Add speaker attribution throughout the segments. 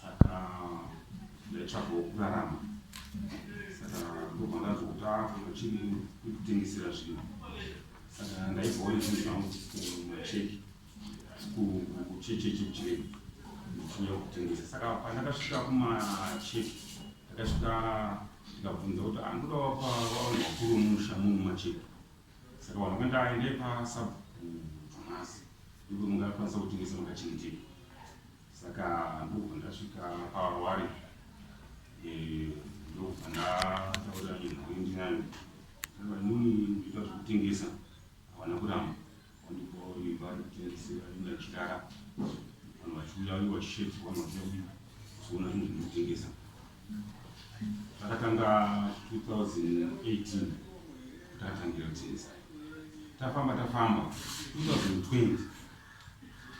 Speaker 1: saka ndaitsvagawo kurarama saka ndobva ndanzwa kuti akuno chiri kutengesera zvinhu saka ndaibvawo nezvinhu zvangu kumacheki kuchecheche kuchirei ndichinyaya kutengesa saka pandakasvika kumacheki ndakasvika ndikabvunza kuti andoda wapa vavanhu vakuru mumusha munhu macheki saka vanhu vakandaende pasabhutomasi ndipo mungakwanisa kutengesa makachengeteka Saka ndobva ndasvika pawari eh, ndobva ndataura nezvekuendi nayo aa inini ndoita zvekutengesa havana kuramba vandipoimba kutengesa ndachirara vanhu vachiuya vange vachisheedzwa vanhu vachiuya kuzoona zvinhu zvinotengesa takatanga 2018 takatangira kutengesa tafamba tafamba 2020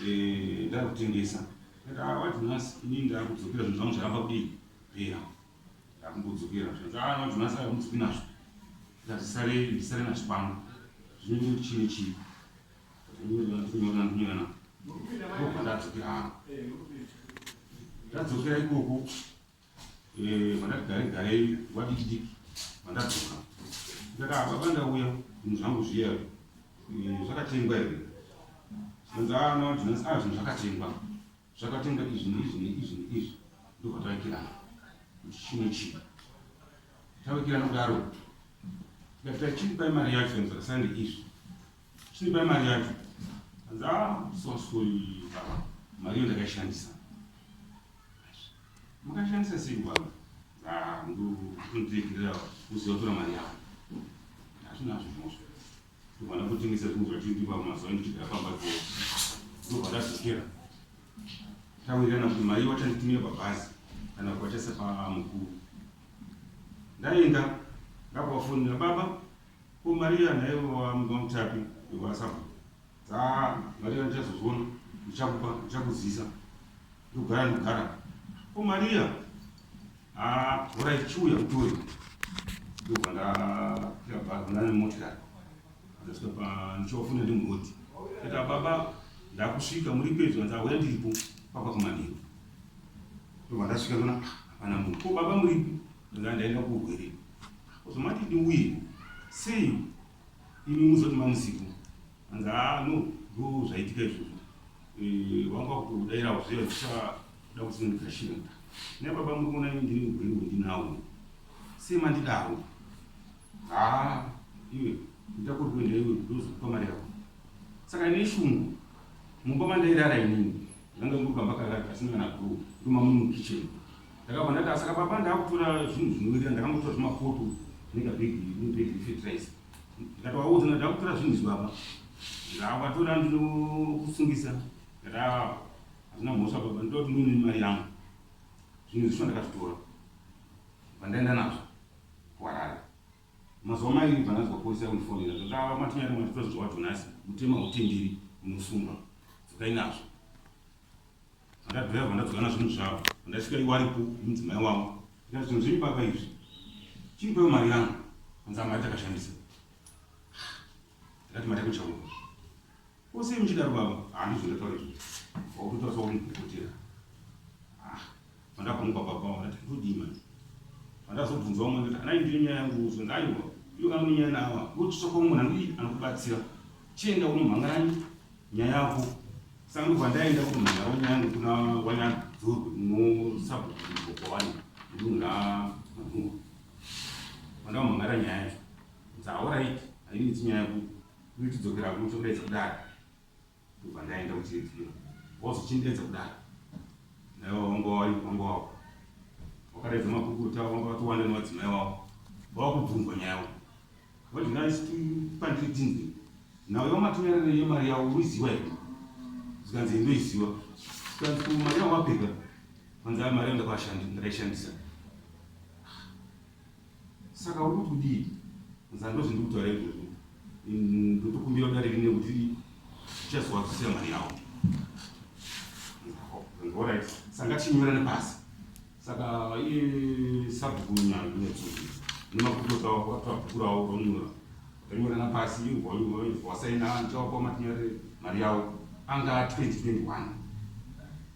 Speaker 1: Eh, ndakutengesa ndati ah, what nhasi ini ndakudzokera zvinhu zvangu zvaramba kudii pera ndakumbodzokera zvinhu ah, not nhasi akumudzoki nazvo ndazvisare ndisare nazvo pano zvinenge kuti chine chii ndinyorana ndinyorana ndobva ndadzokera hangu ndadzokera ikoko Vakati garei garei vadiki diki vandadzoka ndikati ah baba ndauya zvinhu zvangu zviya zvakatengwa here zvikanzi ah no zvinhu zvakatengwa zvakatengwa izvi neizvi neizvi neizvi ndokvatavekirana kuti chii nechii tavekirana kudaro tikati tachii pai mari yacho zvikanzi zvakasiyana neizvi Chipa mari yacho. Hanzi ah so sorry baba. Mari yo ndakashandisa. Mukashandisa sei baba? Ah ndo kundiregerera kuziva tora mari yako. Hazvina zvimosho. Ndovana kutengesa zvinhu zvatiri pa mazuva ndichigara pamba po. Ndovana zvikera. Tawirana kuti mari wachanditumira pabhazi kana kuwachasa pa mukuru. Ndaenda ndakavafonera baba Ko Maria nhaiwe wamuka mutapi wekwasabhuku haa Maria ndichazozviona ndichakupa ndichakuzisa ndogara ndogara ko Maria haa horai chiuya kutore ndobva ndakwira bhazi ndane motikari ndasvika pa ndichivafuna ndi murodi ita baba ndakusvika muri pedyo hanzi auya ndiripo papa kumanheru ndobva ndasvika ndona hapana munhu ko baba muripi ndaa ndaenda kuurwere Uzomati ndiuye sei imi muzoti mamuzivo anzi haa no ndo zvaitika izvozvo eh, vanga vakutodairawo zviya zvichada kusindigashira ne baba muri kuona ini ndiri mugwiri wendinawo sei mandidaro haa iwe ita kuri kuenda iwe ndozokupa mari yako saka ine shungu mumba mandairara inini ndanga muri kamba karara kasina kana gro ndomamuri mukitchen Ndakabva ndati asaka baba ndakutora zvinhu zvinowirira ndakangotora zvimapoto zvinenge bhegi bhegi refetiraiza ndikatovaudza ndati ndakutora zvinhu izvi baba ndakavatora ndinokusungisa ndati ava hazvina mhosva baba ndoda kuti ndine mari yangu zvinhu zvisho ndakazvitora vandaenda nazvo kuharare mazuva mairi vanazwa polisi yakundifonera ndati ava matinyari mwatitora zvinhu zvawatonasi mutema utenderi unosungwa dzokai nazvo Ndadhaya vandadzana zvinhu zvavo ndasvika iwaripo mudzimai wavo ndikati zvinhu zvenyu baba izvi chimupeo mari yangu anzi amari takashandisa ndikati mari yakuchauka kosei muchidaro baba handizvo ndataura izvi wakutotaura sauri mukukutira ah, Pandakumuka papa wakati ndodii manje. Pandazobvunza umwe kuti anai ndiyo nyaya yangu uzwe ngaiwa iyo amwe nyaya nawa ndochitsvaka umwe nandii anokubatsira chienda unomhanganyi nyaya yako saka ndobva ndaenda kumhan'ara nyaya yangu kuna wanyadzurwe unosabokowani ndunhu ramadhungu pandamhan'ara nyaya yacho dzaoraiti ainiiti nyaya yako inotidzokera kunotokudaidza kudaro Ndobva ndaenda kuchidziro was uchindenza kudaro naiwa wanga wari wanga wako wakaredza makukuta wanga watowanda nemadzimai wako vawakubvunzwa nyaya wako what did I say to you pandiri tinzi nhau yawamatorerere yemari yawo uiziva here zvikanzi ndoiziva zvikanzi ko mari yawo wapika kwanzi mari yandakwashandi ndakaishandisa Saka uri kuti kudii? Nzaa ndozvindi kutaura izvozvo. Ndotokumbira dare rine kuti tichazowa kusira mari yawo. Alright. Sanga chinyora nepasi. Saka iye sabhuku nyanga inetsuzi. Nemakuto tawa kwatwa kurawo ronyora. Ronyora napasi ingwa ingwa ingwa saina ndichawa kwa matinyare mari yawo. Anga 2021.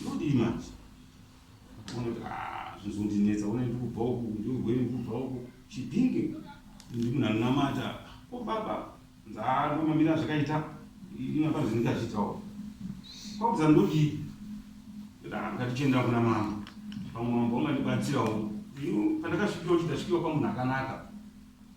Speaker 1: Ndodii manje? Unoti ah zvozondinetsa ona ndikubva uku ndogweni ndikubva uku chidhingi ndimunhu anonamata ko baba ndomamira zvakaita inapa zvindikazvitawo kwakuza ndodii ndatichienda kuna mambo pamwe mambo vangandibatsirawo pandakasvikiwa kuti ndasvikiwa pamunhu akanaka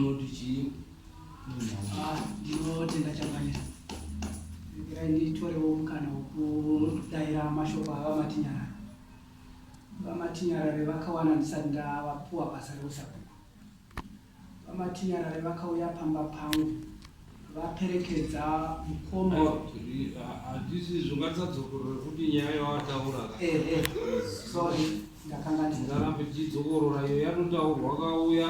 Speaker 2: Moti chii? Ah, ndinotenda
Speaker 3: chakanira. Regerai nditorewo mukana wekudaira mashoko ava matinyara. Vamatinyarare vakawana ndisati ndavapuwa basa reusabhuku. Vamatinyarare vakauya pamba pangu vaperekedza mukoma handisi
Speaker 2: zvongatisadzokoroe kuti nyaya yawataura eh, eh.
Speaker 3: sorry ndakanga
Speaker 2: ndingarambe tichidzokorora iyo yatotaurwa kauya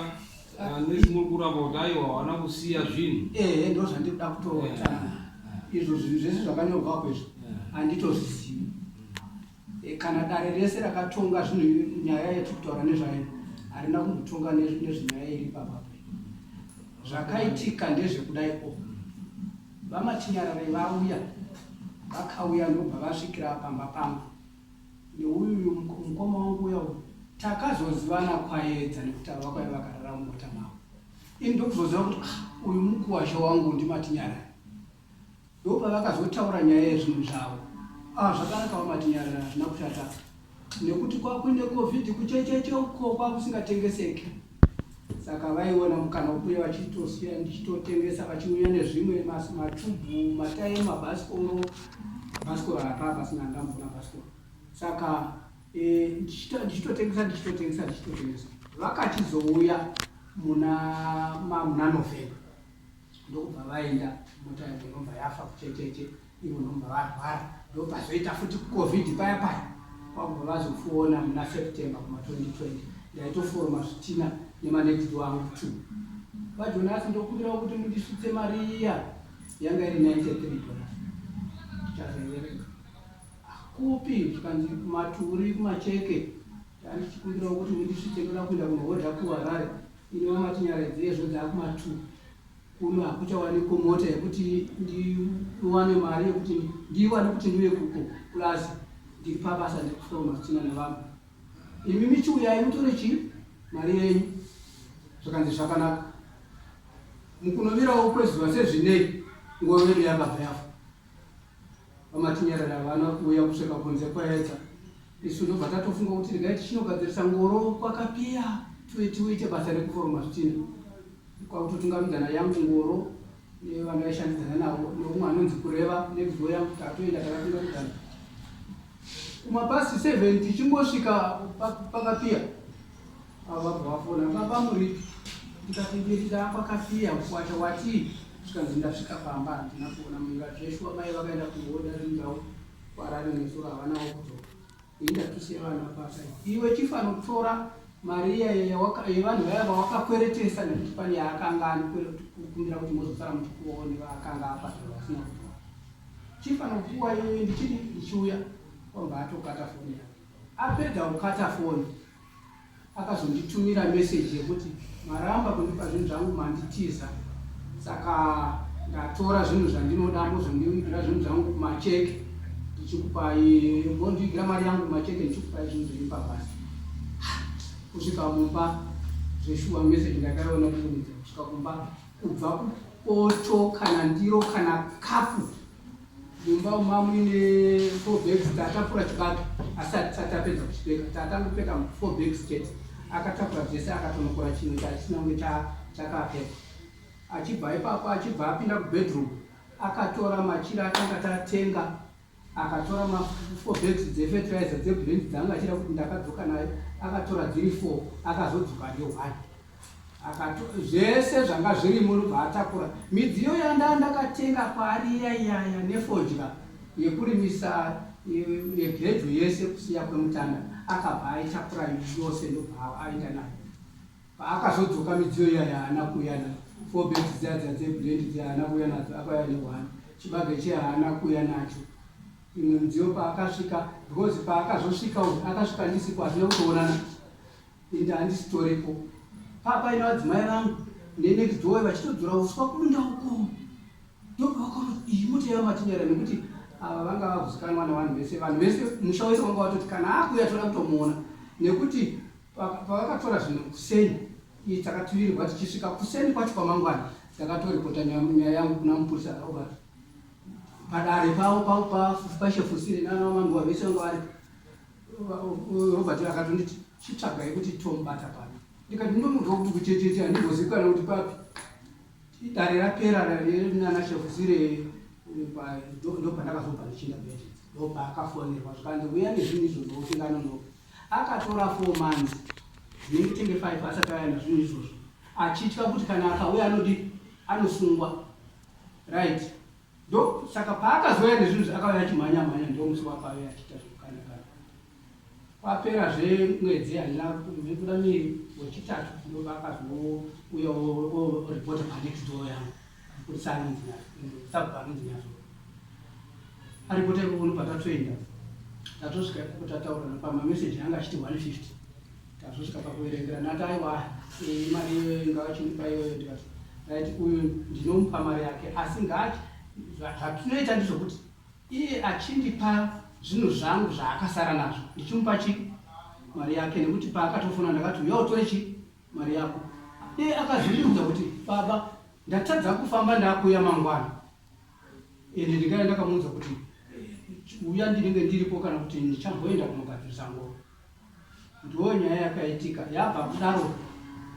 Speaker 2: ah, nesimuri kuramba kuti aiwa hawana kusiya zvinhu ehe eh, ndo zvandikuda
Speaker 3: kutoota izvo zvinhu zvese zvakanyorwako izvo handitozvizivi Kana dare rese rakatonga zvinhu nyaya yatiri kutaura nezvayo harina kumbotonga nezvenyaya iri papa zvakaitika ndezvekudai o vamatinyarare vauya vakauya ndobva vasvikira pamba pangu neuyu mukoma wangu uya uyu takazozivana kwaedza nekuti ava kwai vakarara mumota mavo ini ndokuzoziva kuti ah, uyu mukuwasha wangu ndimatinyarare Ndopavakazotaura nyaya yezvinhu zvavo. Ah zvakanaka vamati nyarara hazvina kushata nekuti kwakuine covid kuchecheche uko kwakusingatengeseke saka vaiona mukana wekuuya vachitosiya ndichitotengesa vachiuya nezvimwe matubu matayi mabhasikoro bhasikoro hapaa pasina ndambona bhasikoro saka e, ndichitotengesa ndichitotengesa ndichitotengesa vakachizouya muna muna november ndokubva vaenda mota yavo inobva yafa kuchecheche ivo nobva varwara ndopazoita futi kucovid paya paya kwakubva vazopfuona muna september kuma 2020 ndaitoforoma zvitina nemanext wangu two vajonasi ndokumbirawo kuti mundisvitse mari iya yanga iri 93 dollars chazoereka kupi zvikanzi kumaturi kumacheke tandichikumbirawo kuti mundisvitse ndoda kuenda kunohodha kuharare Ino matinyaraidza hezvo dzakuma two kuno hakuchawanikwa mota yekuti ndiwane mari yekuti ndiwane kuti ndiuye kuko plus ndiri pabasa ndiri kufamba masichina nevanhu imi michiuyai mutore chii mari yenyu zvakanzi zvakanaka mukunovirawo kwezuva sezvinei nguva vedu yakabva yafa VaMatinyarara havana kuuya kusvika kunze kwaedza isu ndobva tatofunga kuti regai tichinogadzirisa ngoro kwakapiya tiwe tiite basa rekuforoma zvitinha kwakutotungamidzana yangu ngoro nevanaishandidzana navo neumwe anonzi kureva nekuzivo yangu tatoenda takatungamidzana kumapasi 7 tichingosvika pakapiya Ababa vafona baba muripi ndikati ndiri ndakwakasiya kukwata watii zvikanzi ndasvika pamba handina kuona mumba zveshuwa mai vakaenda kuhoda rindawo kwarari nesoro havanawo kudzoka indakise vana pasa iwe chifanotora mariya yevanhu vaya vawakakweretesa nekuti pane yaakanga anikumbira kuti mozosara muchikuwawo nevaakanga apasa vasina kutoa chifanokuwa iwe ndichiri ndichiuya kwamba atokata foni yake apedza kukata foni Akazonditumira message yekuti maramba kundipa zvinhu zvangu manditiza saka ndatora zvinhu zvandinoda mozondivigira zvinhu zvangu kumacheke ndichikupai mondivigira mari yangu kumacheke ndichikupai zvinhu zvenyu pabasa kusvika mumba zveshuwa message ndakaiona kuunidza kusvika kumba kubva kupoto kana ndiro kana kapu Mumba umu mamuine four bags taatapura chibage asi hatisati tapedza kuchipeka taatangopeka four bags chete akatapura dzese akatonokora chimwe chachisina kunge chakapeka achibva ipapo achibva apinda kubedroom akatora machira atanga tatenga akatora mafour bags dzefeterizer dzebrand dzanga achida kuti ndakadzoka nayo akatora dziri four akazodzoka neone Akato, zvese zvanga zvirimo ndobva atakura midziyo yandanga ndakatenga kwaari iya iyaya nefodya yekurimisa yegedyo yese kusiya kwemutanda akabva aitakura yose ndobva aenda nayo paakazodzoka midziyo iya yaana kuuya nayo four beds dziya dziya dzebrendi dziya haana kuuya nadzo akauya nehwana chibage chiya haana kuuya nacho imwe midziyo paakasvika because paakazosvika uyu akasvika ndisipo hazvina kutoonana Ende handisitoripo papa ino adzimai vangu nenext door vachitodzora uswa kudunda uko ndopavakona iyi mota yavo matinyara nekuti ava vanga vakuzikanwa nevanhu vese vanhu vese musha wese wanga watoti kana akuya toda kutomuona nekuti pavakatora zvinhu kuseni iyi takatuvirirwa tichisvika kuseni kwacho kwamangwana takatoripota nyaya yangu kuna mupurisa robert padare pavo pavo pashefusire nana vamanduwa vese vanga varipo Robert akatonditi chitsvagai kuti tombata papi ndikati ndomudzwa kuti kuchecheche handimbozivikana kuti papi idare rapera nanashekuzire ndopandakazobva ndichinda bete ndobva akafonerwa zvikanzi uya nezvinhu izvo ndosingana no akatora four months dzinenge tenge five asati aya nazvinhu izvozvo achitya kuti kana akauya anodi anosungwa right Ndo saka paakazouya nezvinhu zvaakauya achimhanya mhanya ndo musi wakauya achiita zvekukanda kanda. Kwapera zve mwedzi handina kuda miri wechitatu ndo vakazouya reporter pa next door yangu kuti sanzi nazvo sabva anzi nazvo. Ari kuita ikokono patatoenda tatosvika ikokotataurirana pama message anga achiti 150. Tazosvika pakuverengera ndati aiwa eh, mari iyoyo ngavachindipa iyoyo ndikati right uyu ndinomupa mari yake asi ngati zvatinoita ndizvokuti iye achindipa zvinhu zvangu zvaakasara nazvo ndichimupa chi mari yake nekuti paakatofona ndakati uya utore chi mari yako iye akazondiudza kuti baba ndatadza kufamba ndakuuya mangwana ende ndikaya ndakamuudza kuti uya ndinenge ndiripo kana kuti ndichamboenda kunogadzirisa ngoro Ndoo nyaya yakaitika yabva kudaro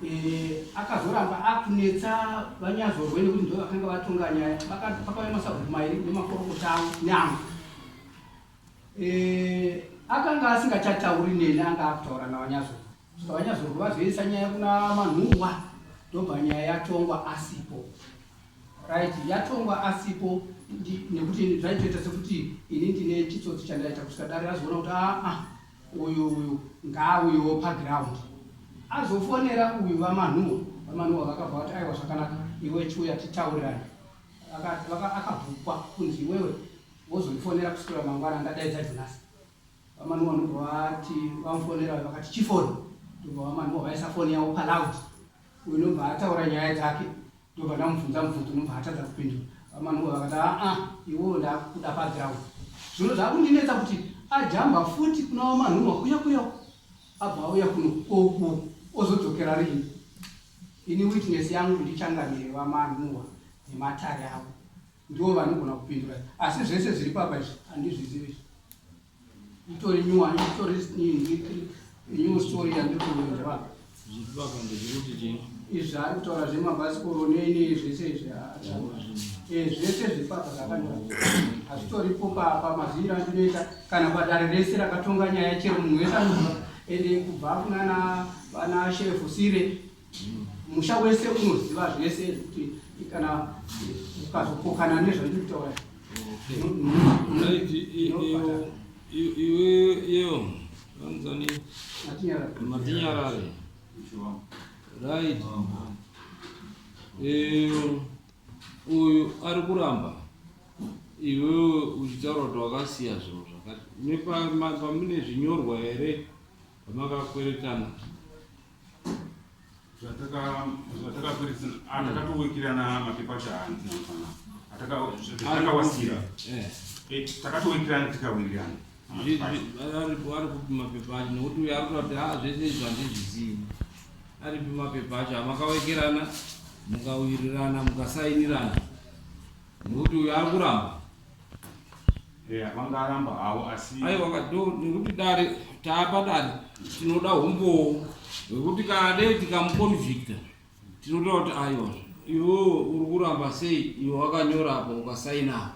Speaker 3: eh, akazoramba akunetsa vanyazorwe nekuti ndo vakanga vatonga nyaya pakauya masabhuku mairi nemakorokota avo nyama eh, akanga asingachatauri neni anga akutaura navanyazorwe saka vanyazorwe vazoisa nyaya kuna manhuwa ndobva nyaya yatongwa asipo Right yatongwa asipo nekuti zvaitoita sekuti ini ndine chitsotsi chandaita kusvika dare razoona kuti aa uyu uyu ngaauyewo paground azofonera uyu vamanhuwa vamanhuwa vakabva vati aiwa zvakanaka iwe chiuya titaurirane akabvukwa kunzi iwewe wozondifonera kusvira mangwana ndadaidza jonasi vamanhuwa ndobva vati vamufonera vakati chifoni ndobva vamanhuwa vaisa foni yavo paloud uyu ndobva ataura nyaya dzake ndobva ndamubvunza mubvunzo unobva atadza kupindura vamanunga vakati aa iwewo ndakuda paground zvino zvakundinetsa kuti ajamba futi kuna wamanunga kuya kuya abva auya kuno oku ozodzokera rini ini witness yangu ndichangamire vamanunga nematare avo ndiwo vanogona kupindura asi zvese zviri papa izvi handizvizivi itori nyuwani itori new story yandikuudzwa
Speaker 2: izvi ari kutaura
Speaker 3: zvemabhasikoro nene zvese izvi eh, zvese zvipaka zvakanyora hazvitoripo papa maziviro andinoita kana padare rese rakatonga nyaya chero munhu wese anoa ende kubva kunana vana sherefu sire musha wese unoziva zvese kuti kana ukazokokana nezvandiri kutaura
Speaker 2: iweyo anzani matinyarare right uyu ari kuramba iwewe uchitaura kuti wakasiya zvinhu zvakati nepamune zvinyorwa here pamakakweretana
Speaker 1: zvatakatowikirirana ah, mapepa chahanzi atakawasira eh. eh, takatowikirirana tikawirirana
Speaker 2: ari kupi mapepa acho nokuti uyo ari kuta kuti ha ah, zvese izvi handizvizivi ari kupi mapepa acho amakawekerana mukawirirana mukasainirana nokuti uyo ari kuramba
Speaker 1: vangaramba havo asi aiwa kado nekuti
Speaker 2: dare taapa dare tinoda humbowo hwekuti kana dei tikamuconvicta tinotoda kuti aiwa iwo uri kuramba sei iwe wakanyora apa ukasaina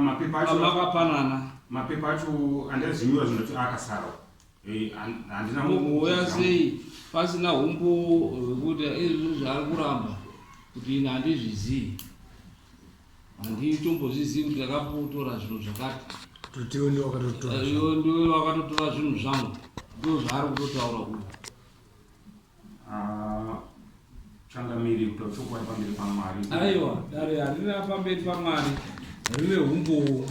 Speaker 2: mapepa acho makapanana mapepa acho
Speaker 1: andazinyora zvinoti akasara Eh, handina mumboya
Speaker 2: sei pasina humbowo hwekuti eh, izvi zvaari kuramba kuti ini handizvizivi handitombozvizivi kuti ndakapotora zvinhu zvakati ndiwe ndiwe wakatotora zvinhu zvangu ndo zvaari kutotaura uyu Ah,
Speaker 1: changamiri kuita chokwadi pamberi pamwari aiwa dare
Speaker 2: harina pamberi pamwari rine humbowo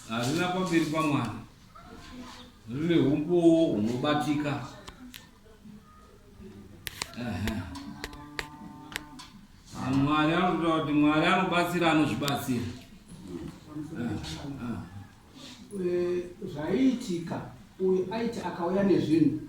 Speaker 2: harina pamberi pamwari rine humbowo hunobatika mwari anotoda kuti mwari anobatsira anozvibatsira ah, ah.
Speaker 3: zvaiitika uyu aiti akauya nezvinhu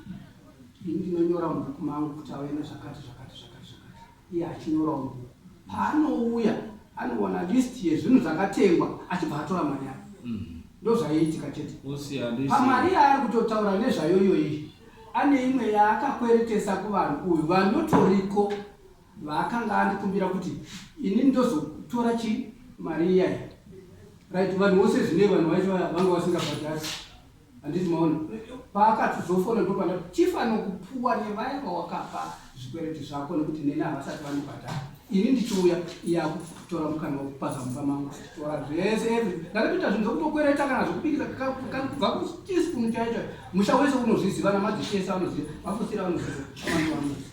Speaker 3: ini ndinonyora mubhuku mangu kuti auya nezvakati zvakati zvakati zvakati iye achinyorawo mubhuku paanouya anowana list yezvinhu zvakatengwa achibva atora mari yake mm-hmm. ndozvaiitika chete pamari yaari kutotaura nezvayoyoyi ane imwe yaakakweretesa kuvanhu uyu vanotoriko vaakanga andikumbira kuti ini ndozotora chi mari iyayi right vanhu vose zvine vanhu vacho vanga vasingabhadhasi handiti maona paakatizofona ndopanda chief anokupuwa nevaya vawakapa zvikwereti zvako nekuti neni havasati vanobhadhara ini ndichiuya iyakutora mukana wekupaza mumba mangu tora zvese ev ndakatoita zvinhu zvekutokwereta kana zvekubikisa kubva kutisipunu chaicho musha wese unozviziva namadzishese vanoziva vafusira vanoziva amani vanoziva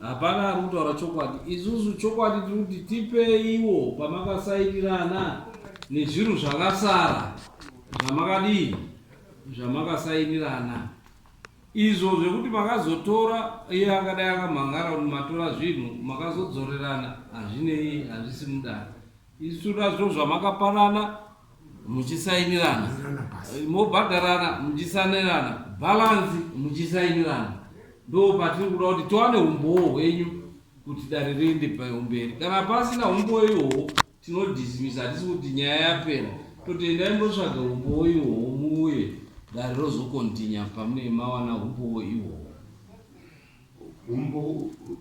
Speaker 2: Hapana ari kutaura chokwadi. Isusu chokwadi tiri kuti tipeiwo pamakasairirana nezvinhu zvakasara zvamakadii zvamakasairirana izvo zvekuti makazotora iye akadai akamhangara kuti matora zvinhu makazodzorerana hazvinei hazvisi mudare Isu nazvo zvamakapanana muchisainirana mobhadharana muchisanirana bhalanzi muchisainirana ndo patiri kuda kuti tiwane umbowo hwenyu kuti dare riende pamberi kana pasina umbowo ihoho tinodhisimisa hatisi kuti nyaya yapera toti endai motsvaga umbowo ihoho muuye dare rozokontinya pamune mawana umbowo ihoho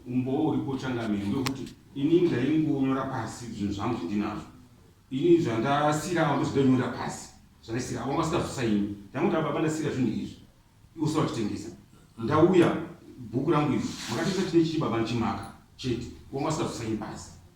Speaker 1: umbowo uripo changamire ndokuti ini ndaingonyora pasi zvinhu zvangu zvindinazvo ini zvandasira avo ndozvindanyora pasi zvandasira avo vasikazosaini ndangoda baba ndasira zvinhu izvi iwose vachitengesa ndauya bhuku rangu izvi makatengesa chine chii baba ndichimaka chete avo vasikazosaini pasi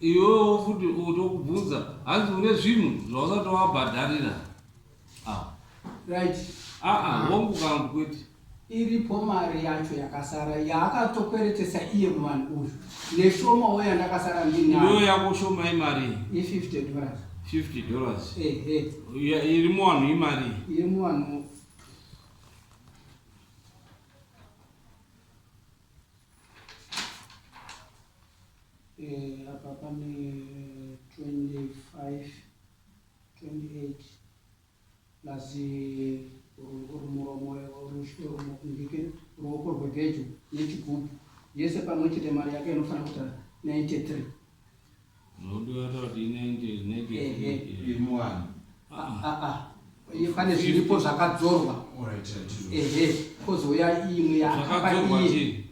Speaker 2: Iwewo futi tokubvunza hanzi une zvinhu zvausati wabhadharira ah.
Speaker 3: Right. Aa ah, ah,
Speaker 2: hongu kangu kwete. Iripo
Speaker 3: mari yacho yakasara yaakatokweretesa iye muvanhu uyu neshomawo yandakasara ndinayo yako
Speaker 2: shoma imari i50 dollars 50
Speaker 3: dollars
Speaker 2: ehe
Speaker 3: iri muvanhu
Speaker 2: imari iri muvanhu
Speaker 3: Eh, apa pane 25 28 plus ruoko rwepedyo nechigubhu yese pamwe chete mari yake inofanira kuita 93 pane zviripo zvakadzorwa ehe kozouya imwe yaakapa iye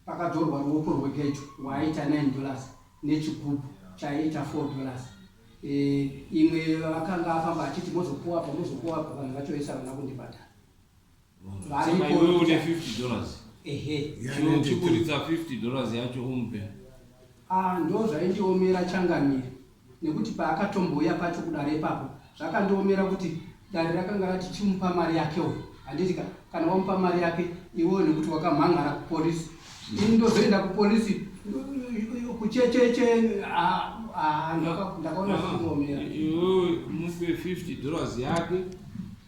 Speaker 3: Pakadzorwa ruoko rwepedyo rwaaita 9 dollars nechigubhu chaiita 4 dollars eh, imwe akanga afamba achiti mozopuwa apa mozopuwa apa vanhu vacho vese havana kundibhadhara Saka iwewe
Speaker 2: une 50 dollars ehe Chino uchikuridza 50 dollars yacho umpe ah,
Speaker 3: ndo zvaindiomera changamire nekuti paakatombouya pacho kudare ipapo zvakandiomera kuti dare rakanga rati chimupa mari yakewo handiti ka kana wamupa mari yake iwewo nekuti wakamhan'ara kupolice ini ndozoenda kupolice kuchecheche ndakaona zvakundiomera iwewe
Speaker 2: mupe 50 dollars yake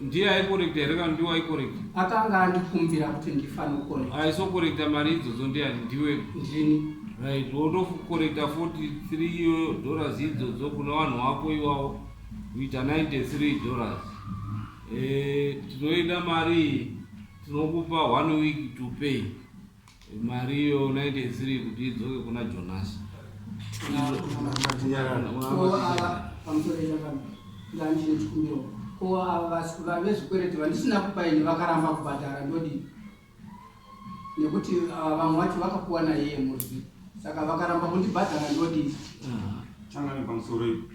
Speaker 2: ndiye aikorekta here kana ndiwe aikorekta akanga andikumbira
Speaker 3: kuti ndifanokorekta aisokorekta mari idzodzo
Speaker 2: ndiani ndiwe ndini
Speaker 3: right
Speaker 2: wotokorekta 43 dollars idzodzo kuna vanhu wako iwawo kuita 93 dollars eh, tinoenda mari tinokupa one week to pay Mariyo unaite isiri kuti idzoke kuna Jonasi.
Speaker 3: Ko ava vasikuru vezvikwereti vandisina kupa ini vakaramba kubhadhara ndodii? Nekuti ah, vamwe vacho vakapuwa naiye murwi saka vakaramba kundibhadhara ndodii? Changani
Speaker 1: pamusoro ipo.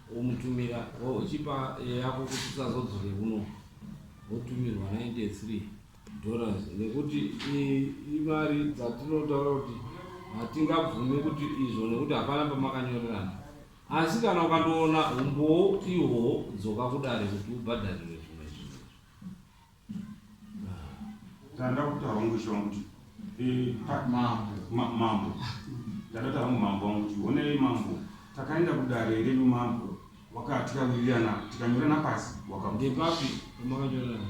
Speaker 2: womutumira wochipa yako kuti usazodzore kuno wotumirwa 93 dollars nekuti imari dzatinotaura kuti hatingabvumi kuti izvo nekuti hapana pamakanyorerana asi kana ukandoona umbowo ihwowo dzoka kudare kuti ubhadharirwe zvimwe zvinhu
Speaker 1: Tanda kutaura wangu ishe wangu kuti eh, ta- Mambo. ma- mambo ndada taura wangu mambo wangu kuti honei mambo takaenda kudare renyu mambo waka tikawirirana tikanyorana pasi waka Ndepapi
Speaker 2: pamakanyorana?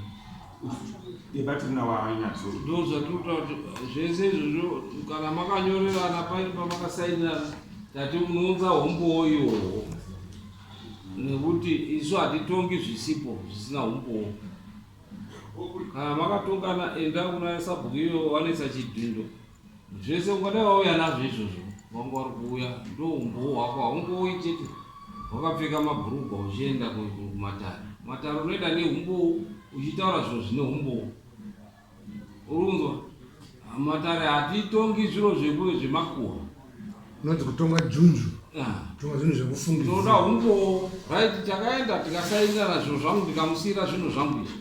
Speaker 1: debatirina wanyatso Ndoo zvatiri kutaura kuti
Speaker 2: zvese izvozvo kana makanyorerana paine pamakasainirana tati unounza hombowo iwowo. nekuti isu hatitongi zvisipo zvisina humbowo kana makatongana enda kuna sabhuku iyo vanetsa chidhindo zvese ungadai vauya nazvo izvozvo vanga vari kuuya ndo humbowo hwako haungouyi chete wakapfeka mabhurugwa uchienda kumatare matare unoenda nehumbowo uchitaura zviro zvine humbowo Urunzwa matare hatitongi zviro zvekuve zvemakuhwa unonzi
Speaker 4: kutonga junju kutonga zvinhu zvekufungi tinoda umbowo
Speaker 2: right takaenda tikasainana zvinhu zvangu ndikamusiyira zvinhu zvangu izvi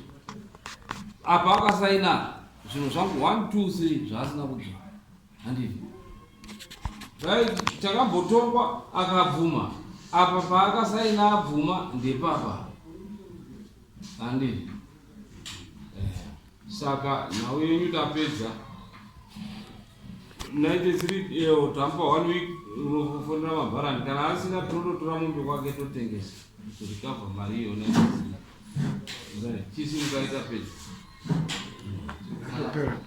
Speaker 2: apa akasainana zvinhu zvangu one two three zvaasina kudya handivi right takambotongwa akabvuma apa paakasaina abvuma ndepapa Handi. Eh, saka nhau yenyu tapedza. Naite siri iyo tampa one week unofonera mabharani kana asina tinototora mombe kwake totengesa zvikabva mari iyo naite siri. Chisi mukaita pedza. Thank you.